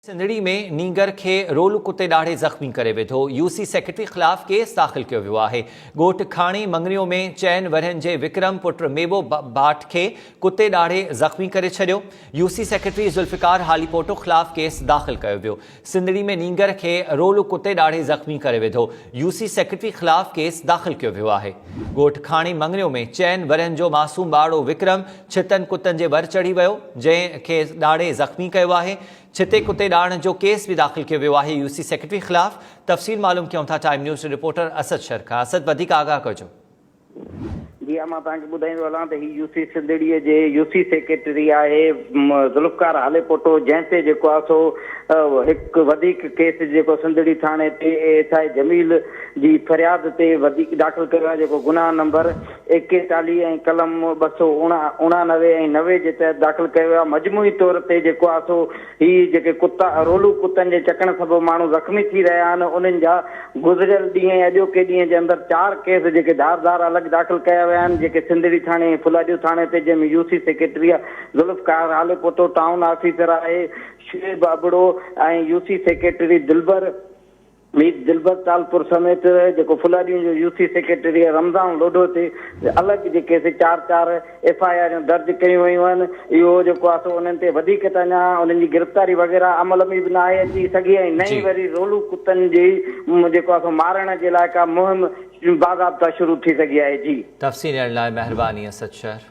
سنڌڙي ۾ نينگر کي رولو ڪتي ڏاڙهي زخمي ڪري وڌو، يو سي سيڪريٽري خلاف ڪيس داخل ڪيو ويو آهي، ڳوٺ کاڻي مڱريو ۾ چئن ورهين جي وڪرم پٽ ميبو ڀاٽ کي ڪتي ڏاڙهي زخمي ڪري ڇڏيو، U C secretary Zulfiqar Halepoto خلاف ڪيس داخل ڪيو ويو، سنڌڙي ۾ نينگر کي رولو ڪتي ڏاڙهي زخمي ڪري وڌو، يو سي سيڪريٽري خلاف ڪيس داخل ڪيو ويو آهي، ڳوٺ کاڻي مڱريو ۾ چئن ورهين جو معصوم ٻارڙو وڪرم ڇتن ڪتن جي ڀر چڙهي ويو، جنهن کي ڏاڙهي زخمي ڪيو آهي، ڇتي ڪتي ڏاڙهڻ جو ڪيس به داخل ڪيو ويو آهي يو سي سيڪريٽري خلاف، تفصيل معلوم ڪيون ٿا time news reporter Asad Shar کان، اسد وڌيڪ آگاهه ڪجو. جي ها مان توهان کي ٻڌائيندو هلان ته هي يوسي سنڌڙي جي يوسي سيڪريٽري آهي ذوالفقار هاليپوٽو جنهن تي جيڪو آهي سو هڪ وڌيڪ ڪيس جيڪو سنڌڙي ٿاڻي تي اي ايس آء جميل جي فرياد تي وڌيڪ داخل ڪيو آهي جيڪو گناهه نمبر ايڪيتاليهه ۽ قلم ٻه سؤ اڻانوي ۽ نوي جي تحت داخل ڪيو ويو آهي، مجموعي طور تي جيڪو آهي سو هي جيڪي ڪتا رولو ڪتن جي چڪڻ سبب ماڻهو زخمي ٿي رهيا آهن انهن جا گذريل ڏينهن ۽ اڄوڪي ڏينهن جي اندر چار ڪيس جيڪي ڌار ڌار الڳ داخل ڪيا ويا آهن جيڪي سنڌڙي ٿاڻي ۽ ڦلاڏيو ٿاڻي تي جنهن ۾ U C secretary Zulfiqar Halepoto town officer آهي Shoaib Abro ۽ U C secretary Dilbar Mir Dilbar Talpur سميت جيڪو ڦلاڏيء جو يوٿي سيڪريٽري رمضان لوڍو تي الڳ جيڪي سي چار چار ايف آء آريون درج ڪيون ويون آهن اهو جيڪو آهي سو انهن تي وڌيڪ ته اڃا انهن جي گرفتاري وغيره عمل ۾ به ناهي اچي سگهي ۽ نه ئي وري رولو ڪتن جي جيڪو آهي سو مارڻ جي لاء ڪا مهم باضابطا شروع ٿي سگهي آهي جي. تفصيل ڏيڻ لاء مهرباني اسد شهر.